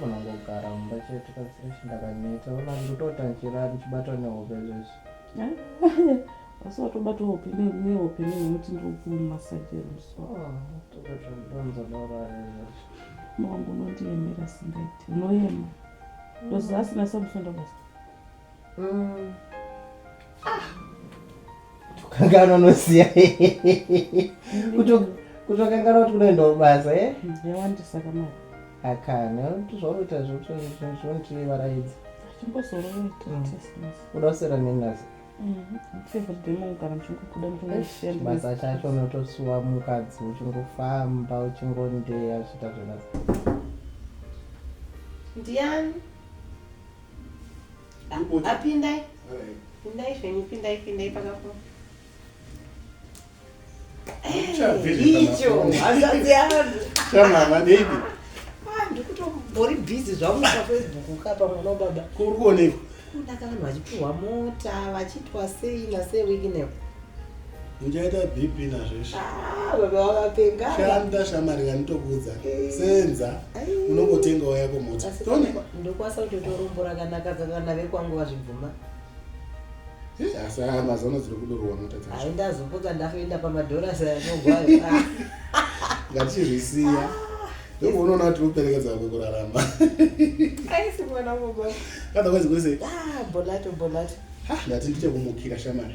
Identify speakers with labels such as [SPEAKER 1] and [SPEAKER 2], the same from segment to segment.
[SPEAKER 1] vanongogara mumba chete kazireshi ndakaneta ona ndotota nchira ndichibatwa nehope zvese asi watobata hope nehope nekuti ndikukumasajeri msowangu unondiemera singaiti unoema ndozasina samusonda basa kukanganwa unoziva kutokanganwa kuti kunoendawo basa e eh? yawandisa kamari akana kuti zvaunoita zvonditivaraidza chimbozoroita mm. kuda kusera nenasi basa mm-hmm. chacho unotosuwa mukadzi uchingofamba uchingondeya zviita zvenasi ndiani apindai pindai zvenyu pindai pindai pakapo icho hazvadzi yangu chamama baby ah, ndikutombori busy zvangu pafacebook kapa mwana wababa kuri kuonekwa kundaka vanhu vachipiwa mota vachiitwa sei nasei wiki nepo Muchaita BP nazveshe. Ah, baba wakapenga. Shanda shamari kanitokuudza. Eh. Senza unongotenga waya komota. Tone ndokwasa kuti torombora kana kadzaka nave kwangu vazvibvuma. Eh, asi aya mazano dziri kudorowa mota dzacho. Hayi ndazopota ndafoenda pamadhora saya nogwayo. Ngatichizvisiya. Ah. Ndipo unoona kuti uperekedza kwe kurarama. Aisi mwana mugwa. Otherwise kuri sei? Ah, bolato bolato. Ha, ndati ndichakumukira shamari.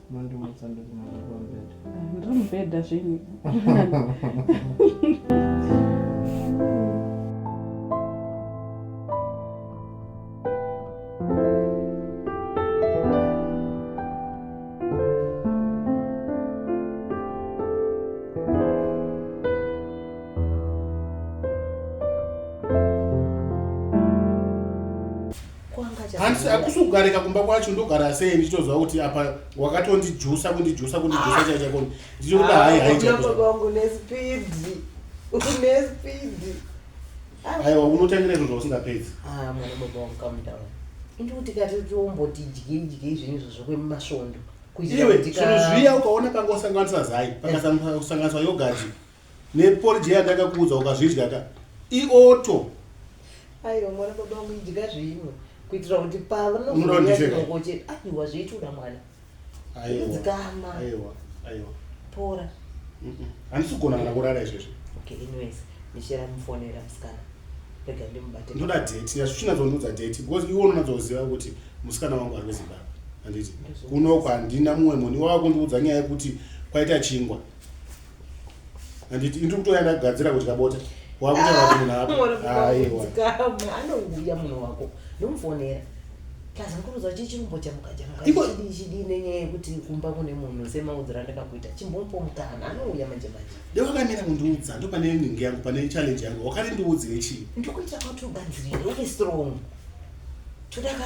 [SPEAKER 1] Mandimutsa ndokunanga pamubhedha. Ndiri mubhedha zvenyu. handisi hakusi kugarika kumba kwacho ndogara sei ndichitoziva kuti apa wakatondijusa kundijusa kundijusa ah. chaichakoni ndichikuda hai haiaiwangunespeedi unespeedi aiwa unotangira izvo zvausingapedzi ah, mwana baba wangu kamudawa indi kuti kati tomboti dye dye zvinhu izvo zvokwemasvondo iwe zvinhu zviya ukaona panga usanganisa zai pakasanganiswa yogati Ne porridge iya yandakakuudza ukazvidya ka i auto. Aiwa mwana baba vangu idya zvimwe kuitira kuti Unoda kuti ndipfeka? pavanozouyaoche aiwa zveituda mwana Aiwa. Dzikama. Aiwa. Aiwa. pora Mm-mm. Handisi kugona kana kurara izvezvi. okay anyways michera mufonera musikana rega ndimubate Ndoda date. Yasvina dzondiudza date because iwe unonatsoziva kuti musikana wangu ari kuZimbabwe. Handiti. Ndozvo. Kunoku handina mumwe munhu iwawa kundiudza nyaya yekuti kwaita chingwa. handiti indiri kutoya ndagadzira kudya bota wakutaura kuti munhu apoanouya munhu wako ndomufonera plus ndikuruza chii chirumbo chamukachamukachidichidii nenyaya yekuti kumba kune munhu semaudziro andakakuita chimbomupo mukana anouya manje manje de wakamira kundiudza ndo pane nhingi yangu pane challenge yangu wakati ndiudzire chii ndikuita kwati ugadzirire uve strong todaka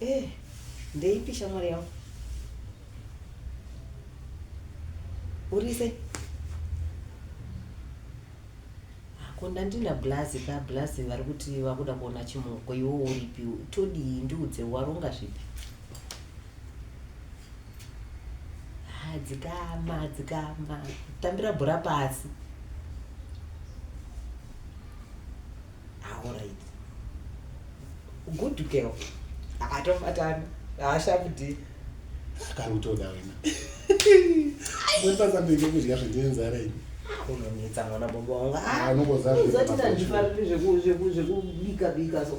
[SPEAKER 1] Eh, ndeipi shamwari yangu urise ko ndandina blazi ka blazi vari kuti vakuda kuona chimuko iwo uripi todii ndiudze waronga zvipi hadzikama hadzikama tambira bhora pasi aorit ah, good girl atofatana haashakutii kari kutoda wena mwepasambeike kudya zvine nzara ini unonetsa mwana baba wanguaunozotitazvifariri zvekubika bika so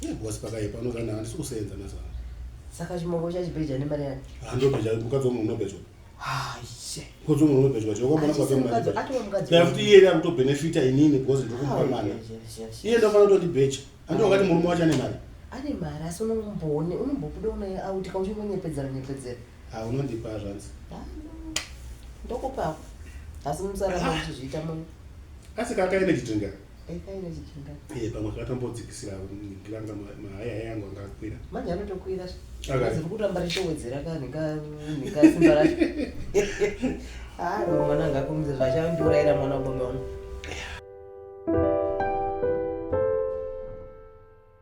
[SPEAKER 1] Ye boss pakaipa unogana handisi kusenza mazana. Saka chimongo chachibheja nemari yani. Handobheja mukadzi wamwe unobhejwa. Haise. Mukadzi wamwe unobhejwa chero kwamana kwa kama. Atova mukadzi. Dai kuti iye akuto benefita inini because ndokumupa mwana. Iye ndofana kuti bheja. Handi wakati murume wacho ane mari. Ane mari asi unomboone unombobuda unaye auti kauchingonyepedzera nyepedzera. Ha unondipa zvanzi. Ndokupa. Asi musara kuti zviita munhu. Asi kakaenda chitengera. Eh, pamwe akatambodzikisira ndanga mahaya haya yangu anga akwira manje anotokwira zviri kutamba richowedzera ka nekasimba racho haa ah, mwana anga akumisa zvachandiurayira mwana wabome wangu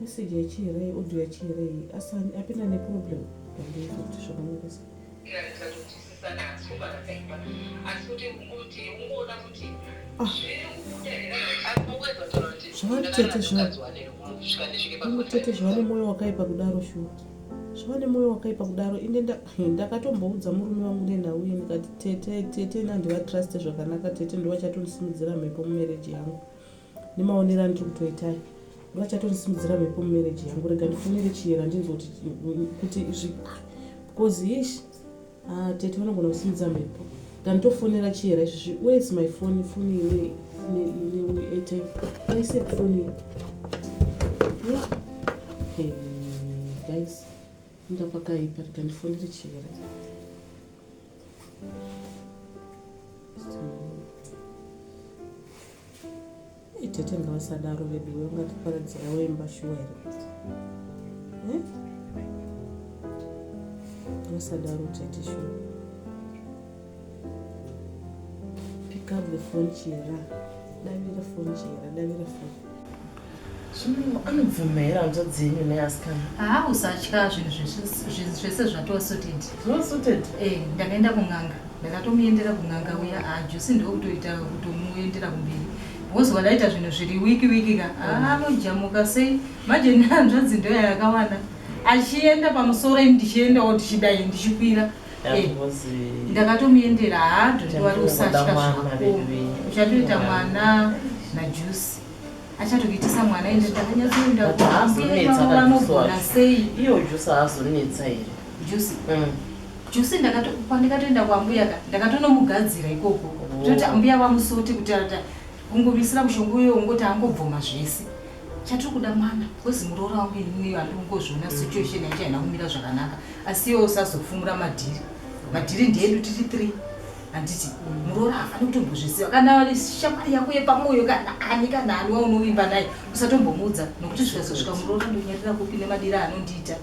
[SPEAKER 1] message yachiirei audio yachiirei asi apinda neproblem pandifuti zvakamirisa zvakatete zvavo zvakatete zvavo nemwoyo wakaipa kudaro shuwa zvavane moyo wakaipa kudaro inde ndakatomboudza murume wangu nenhau iyi ndikati tete tete ini handivatruste zvakanaka tete ndovachatondisimudzira mhepo mumereji yangu nemaonero andiri kutoitai ndovachatondisimudzira mhepo mumereji yangu rega ndifonere chiyera ndinzwa kuti zvi because ish Ah, tete vanogona kusimudza mhepo than tofonera chihera izvizvi where is my phone phone ine airtime aise phone eh, guys inda pakaipa rega ndifonere chihera Tete ngavasadaro veduwe ungatiparadzira wemba shuwa here eh? vasadaro tete shuwa pick up the phone chera davira phone chera davira phone zvino anobvuma here hanzva dzenyu neasikana haa usatya zvinhu zvese zvatosuted zvosuted e eh, ndakaenda kun'anga Ndakatomuendera kun'anga uya aa ah, Josi ndokutoita kutomuendera kumberi because wadaita zvinhu zviri wiki wiki ka ah, anojamuka sei manje nehanzvadzi ndoya yakawanda achienda pamusoro ini ndichiendawo tichidai ndichikwira eh, ndakatomuendera haa ah, dhondi wari usatya zvako uchatoita mwana najusi achatokuitisa mwana ende ndakanyatsoendaanogona sei iyo jusi haazonetsa here jusi mm. Jose ndakatokupa ndikatoenda kwambuya ka ndakatonomugadzira ikoko toti ambuya vamusote kuti ata kungomisira mushonga uyo ungoti angobvoma zvese chatiri kuda mwana kozi muroora wangu inini iyo andikungozviona situation yacho haina kumira zvakanaka asi iwo usazofumura madhiri madhiri ndeedu tiri three handiti muroora hafani kutombozviziva kana shamwari yako yepamwoyo kana ani kana ani waunovimba naye usatombomuudza nokuti zvikazosvika muroora ndonyarira kupi nemadira anondiita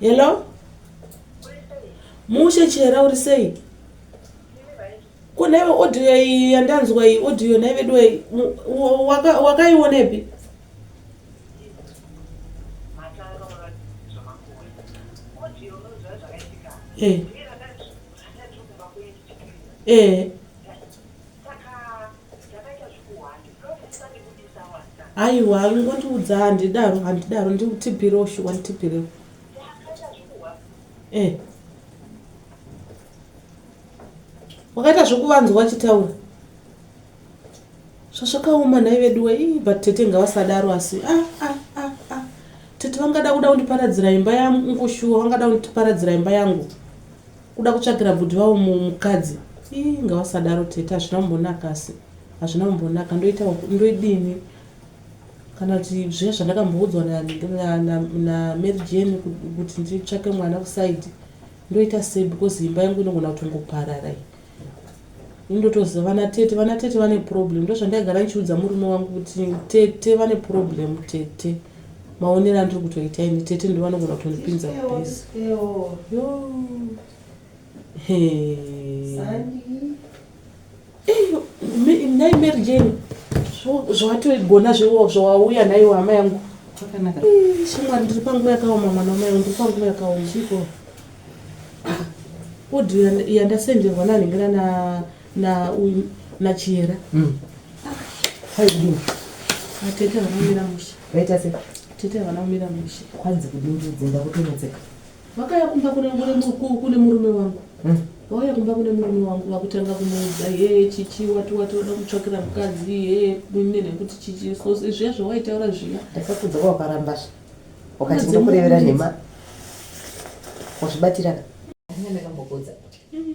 [SPEAKER 1] Hello? Mushe chihera uri sei? Ko nhaive audio iyi yandanzwa iyi audio nhaive dwe wakaionepi? Eh. Eh. aiwa ingondiudza handidaro handidaro ndikutipirewo shuwa nditipirewo e eh. wakaita zvekuvanzwa wachitaura zvazvakaoma nhai veduwe i but tete ngavasadaro asi a ah, a ah, a ah, a tete vangada kuda kundiparadzira imba yangu shuwa vangada kundiparadzira imba yangu Kuda kutsvagira bvudhi vavo mukadzi ii ngavasadaro tete hazvina kumbonaka asi hazvina kumbonaka ndoita ndoidini kana kuti zviya zvandakamboudzwa namary jane kuti nditsvake mwana kusaidi ndoita sei because imba yangu inogona kutongoparara iyi indotoziva vana tete vana tete vane problem ndozvandaigara ndichiudza murume wangu kuti tete vane problem tete maonero andiri kutoita ini tete ndo vanogona kutondipinza mubhizi nhai mary jane zvawatogona zvawauya nhaiwo hama yangu shamwari ndiri panguva yakaoma mwana wamai ndiri panguva yakaoma ah, odhi yandasenderwa nanhingana na na uyu na chiyera mm. ah. atete vanomira mushe vaita se tete havana kumira mushe kwanzi kudindidzenda kutonodzeka vakaya kumba kune murume wangu mm. vauya kumba kune murume wangu vakutanga kumuudza hee chichi wati wati wada kutsvakira mukadzi hee mine nekuti chichi so zviya zvawaitaura zviya ndakakudza kwawakaramba zve wakati ndokurevera nhema wazvibatiraka ndakambokudza mm.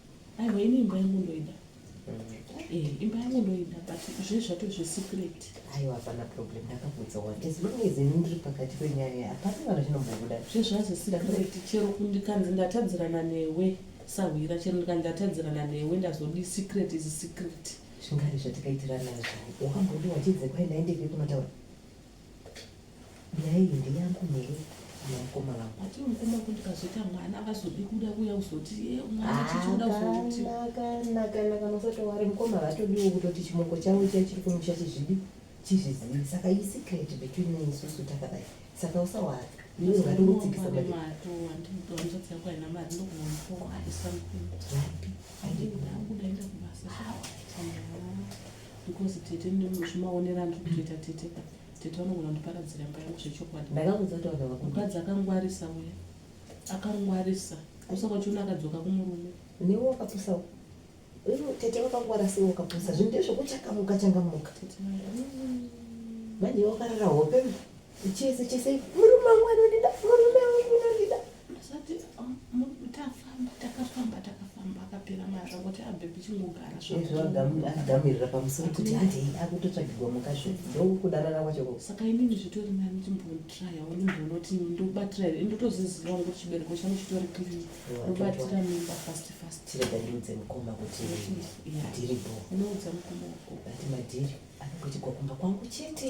[SPEAKER 1] aiwa ini imba yangu ndoida Eh, imba yangu ndoida but zve zvato zvesecret aiwa hapana problem ndakabvudza wani as long as ini ndiri pakati penyaya hapana kana chinombobuda zvezvazesecret chero kundikanzi ndatadzirana newe sahwira chero ndikanzi ndatadzirana newe ndazodii secret is secret zvingari zvatikaitirana izvo wakambondiwachidze kwai ndaendeke kunotaura Nhai hindi yangu mhere mukoma vangu. Ati mukoma kuti kazoita mwana avazodi kuda kuya kuzoti eh, mwana ah, chichoda kuzoti. Kana kana kana usati wari mukoma vatodiwo kutoti chimoko chavo chiya chiri kumusha chizvidi chizvizivi saka i secret between me isusu takadai saka usawari iwe ungati utsikisa mari. Wapi? Ayi ndakuda enda kubasa. because tete ndimuzvimaonera ndiri kutoita tete tete vanogona kundiparadzira imba yangu zvechokwadi mukadzi akangwarisa uya akangwarisa usaka uchiona akadzoka kumurume newe wakapusa tete vakangwara sei wakapusa zvinhu ndezvekuchakamuka changamuka manje wakarara hope chese chese murume wangu anondida murume wangu anondida ndisati tafamba takafamba takafamba akapera mara kuti abhebhi chingogara zvagamirira pamusoro kuti handei akutotsvagirwa mukazvi ndokudanana kwacho ko saka inini zvitori nani ndimbotraya ndimboona kuti ndobatira here ndotoziziva ngo chibereko changu chitori clean ndobatira mimba fast fast chirega ndiudze mukoma kuti ndiri bo unoudza mukoma wako ati madhiri anongoitigwa kumba kwangu chete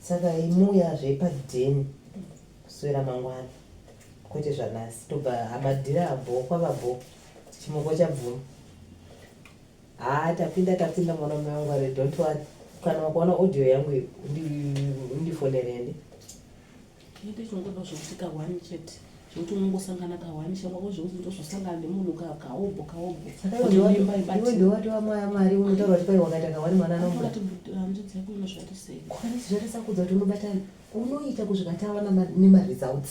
[SPEAKER 1] saka imuya zvepadheni kuswera mangwana kwete zvanasi tobva amadhira abho kwava bho chimoko chabvuma haa tapinda tapinda mwana mume wangu are don't worry kana wakaona audio yangu undifonerende Chete chongoda zvokuti kahwani chete zvokuti unongosangana kahwani shamwako zvokuti ndozvosangana nemunhu kahobho kahobho iwe ndowati wamwaya mwari unotaura kuti kwai wakaita kahwani mwana anohanzvadzi yako inozvatisei kwanisi zvatisakudza kuti unobatana unoita kuzvikatawa nemaresults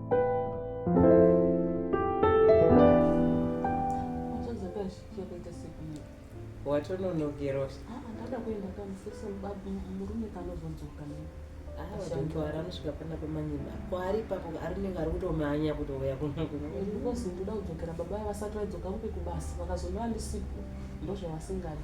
[SPEAKER 1] watononogerwa ah, ah, ndada kuenda kamusese murume kanozodzoka avantuari anosvika pana pamanyima kwaari ipapo arinenge ari kutomanya kutouya kunokunozi ndoda kudzokera baba vasati vaidzoka kupi kubasa vakazonova ndisipo ndozvavasingadi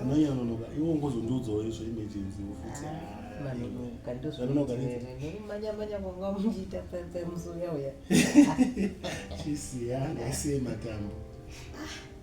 [SPEAKER 1] anonyanonoka iwo ngozondiudzawo izvo emergency ofiti manyamanya kwanga muchiita pemusonyauya chisiya ngaisiye matambo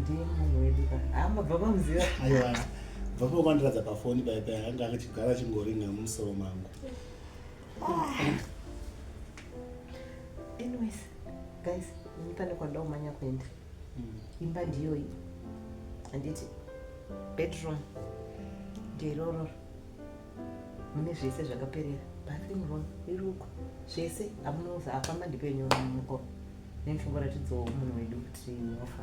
[SPEAKER 1] ndiye munhu wedu ka haa mabva pamuziva aiwa bva pakuvandiradza pafoni pai pai anga achigara achingoringa mumusoro mangu anyways guys ini pane kwandida kumanya kuenda mm. imba ndiyoyi handiti bedroom ndirororo mune zvese zvakaperera bathroom room iruko zvese amunoza afamba ndipenyu muko nechimbo ratidzawo munhu wedu kuti wafa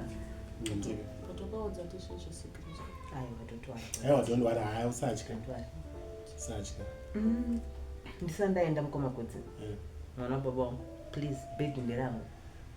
[SPEAKER 1] totokaudza tishe zvesekristu aiwa totwara aiwa tondwara haya usatya usatya mm, ndisandaenda mukomakudzi eh. mwana baba wangu please bedi nderangu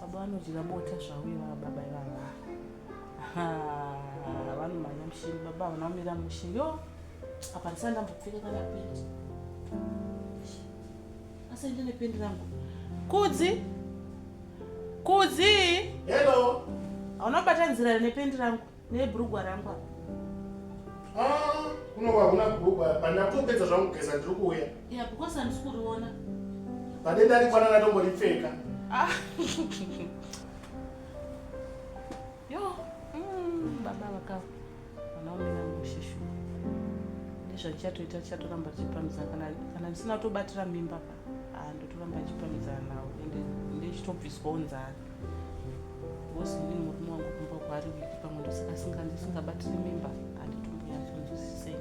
[SPEAKER 1] Baba vanodya bota zvavo ivava baba ivava. Vanomhanya mushini baba havana kumira mushini. Yo, apa ndisati ndambopfeka kana pendi. Asi ndine pendi rangu. Kudzi. Kudzi. Hello. Hauna kubata nzira nependi rangu. Nebhurugwa rangu apa. Ah, kunova huna bhurugwa apa. Ndakutopedza zvangu kugeza ndiri kuuya. Ya, because handisi kuriona. Pade ndarikwana ndatomboripfeka. Ah. Yo, mm, baba vakava. Vanaombe vangu sheshu. Ndizvo chichatoita chichatoramba chichipamisa kana kana ndisina kutobatira mimba pa. ah, ndotoramba achipamhidzana nawo ende ndechitobviswawo nzara bhosi ndini murume wangu kumba kwaari wiki pamwe ndosaka ndisingabatiri mimba anditomboyatsonzwisisei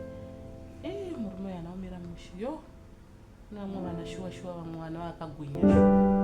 [SPEAKER 1] e eh, murume uyo anaomera mushe yo kune vamwe vana shuwa shuwa vamwe vana vakagwinya shuwa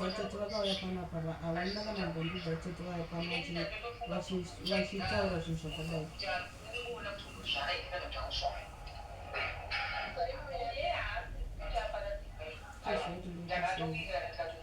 [SPEAKER 1] vatete vakauya panapa havana kana mbombi vatete vaya pano vachitaura zvinhu zvakadai Thank you.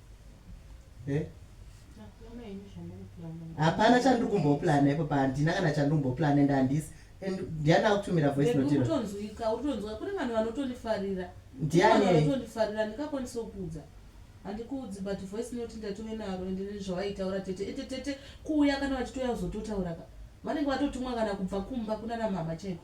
[SPEAKER 1] eh? hapana chandiri kumboplana ipo pa handina kana chandiri kumboplana and handisi and ndiani akutumira voice notiutonzwika utonzwa kune vanhu vanotondifarira ndianitondifarira ndikakwanisa kuudza handikuudzi but voice note ndatove naro ende nezvawaitaura tete ete tete kuuya kana vachitouya kuzototauraka vanenge vatotumwa kana kubva kumba kunana mhama chaiko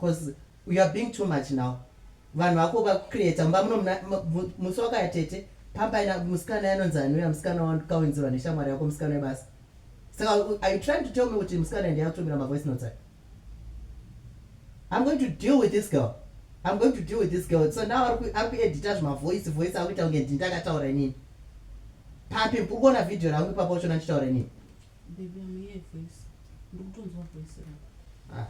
[SPEAKER 1] Cause you are being too much now. Vanhu vako vakucreata mba muno musi wakaya tete pampaina musikana yanonzi anouya musikana wakaunzirwa neshamwari yako musikana webasa. Saka are you trying to tell me kuti musikana ndiye akutumira mavoice notes aya? I'm going to deal with this girl. I'm going to deal with this girl. So now aku aku edita zvima voice voice akuita kunge ndini ndakataura inini. Papi uri kuona video rangu ipapo uchona ndichitaura inini. Baby, I'm here, voice. Ndikutonzwa voice rangu. Ah,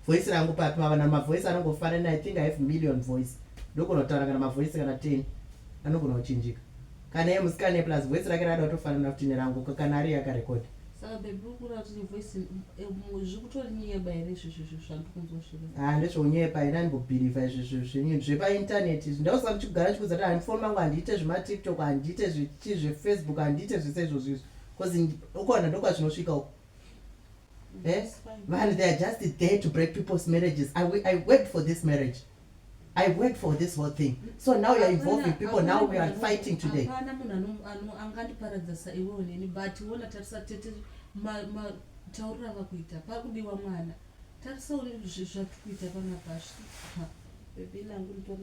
[SPEAKER 1] voice rangu papi mava na mavoice anongofanana I think I have million voice. Ndogona kutaura kana mavoice kana 10. Anogona kuchinjika. Kana ye musikane plus voice rake rada kutofanana kuti nerangu kana ari yakarekoda. Saka baby ukura kuti ne voice eh, zvikutori nyeba here izvizvi izvi zvandikunzwa zviri. Ah, ndezvonyepa here andimbobhilivha izvizvi zvinyi zvepa internet izvi. Ndausaka chikugara chikuzati handifoni mangu handiite zvema TikTok handiite zvichi zve Facebook handiite zvese izvozvo izvi. Because in Ukona ndokwazvinosvika uko. Eh? Vanhu they are just there to break people's marriages. I, I worked for this marriage. I worked for this whole thing. So now you are involving people. Now we are fighting today. Hapana munhu angandiparadza saiwewo neni but wona tarisa tete matauriro avakuita pakudiwa mwana. Tarisa zvatikuita panapa. Baby nangu nditori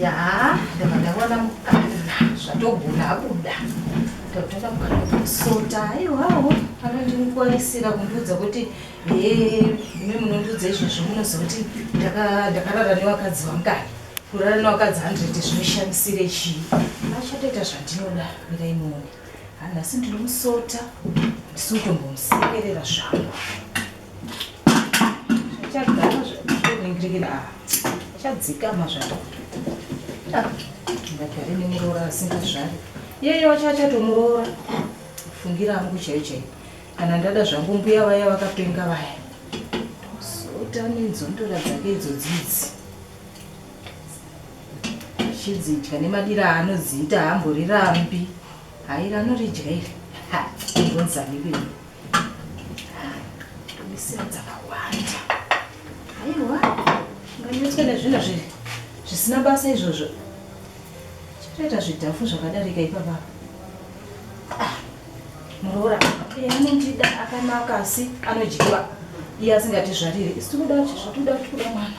[SPEAKER 1] yaa ndava ndaona mukana zvatogona abuda tatoda kusota aiwawo anondingwarisira kundiudza kuti hee imi munondiudza izvozvo munozoti ndakarara nevakadzi vangani kurara nevakadzi hundred zvinoshamisire chii achatoita zvandinoda miraimoni Nhasi ndinomusota ndisutombomusekerera zvangu zvachagara zvakutoningiririra ava achadzikama zvangu ndagare nemuroora asingazvari iyeyo wacho achatomuroora fungira angu chaiyo chaiyo kana ndada zvangu mbuya vaya vakapenga vaya ndosota nenzondora dzake idzo dzidzi chidzidya nemadira aanodziita haamborirambi hairi anoridya iri haonzaniwei misira dzakawanda aiwa nganyotwe nezvinhu zvisina basa izvozvo chitoita zvidhafu zvakadarika ipapa ah, muroora eh, anondida akanaka asi anodyiwa iye asingatizvariri isi tikuda zvatoda kuti kuda mwana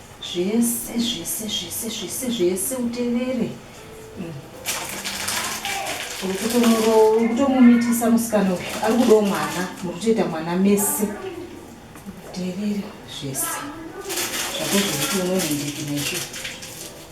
[SPEAKER 1] Zvese zvese zvese zvese zvese utevere mm. uri kutomumitisa musikana uyu ari kudawo mwana muri kutoita mwana mese utevere zvese zvako zvekuti umwe mundiki naizvo